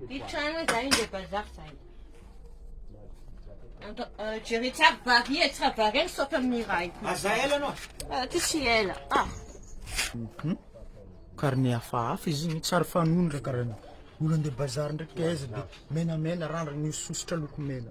Hitrano zay ndray bazary zay. Jereo tsara vary e, tsara vary e, saotra amin'ny iray. Aza ela anao. Ah, ty tsy ela. Ah. Mhm. Karne hafahafa izy igny tsary fanondraka raha ny olo andeha bazary ndraiky taiza dia menamena randrana ny sosotra loko mena.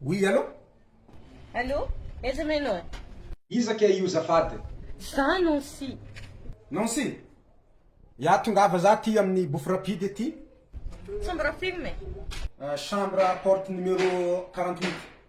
Oui allo? Allo? Aiza ma ianao e? Iza kay io zafady? Za Nancy. Nancy? Ya tongava za aty amin'ny bouffe rapide aty. Chambre film e? Chambre porte numéro quarante huit.